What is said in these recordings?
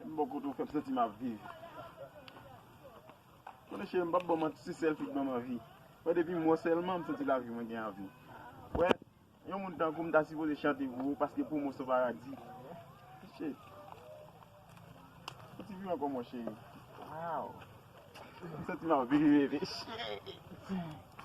M bò kote w fè m santi m ap viv Konnen cheri m pap ban manti se sèl fi k ban m anvi Wè depi m wè w sèlman m santi lavi mwen gen avi Wè yon moun tankou m ta sipoze chante pou ou paske pou mwen s on paradi Cheri Fè ti bri ankò mon cheri Waww M santi m ap viv bebe Cheri Cheri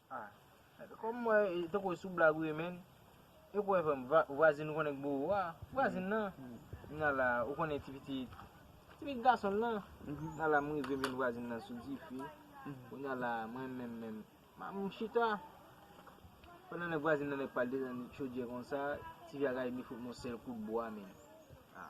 Kòm mwen wè tankou e sou blag ou ye menn E kouwè frèm vwazin ou konnen k bo ou a Vwazin nan Nan la ou konnen ti pitit Ti pitit gason nan Nan la m rive m jwenn vwazin nan sou dife Kounya la mwen menm menm M chita Pandan nèg vwazin nan nèk pa l desann chodyè konsa Ti vya gaye vini fout m yon sèl kout bwa menn A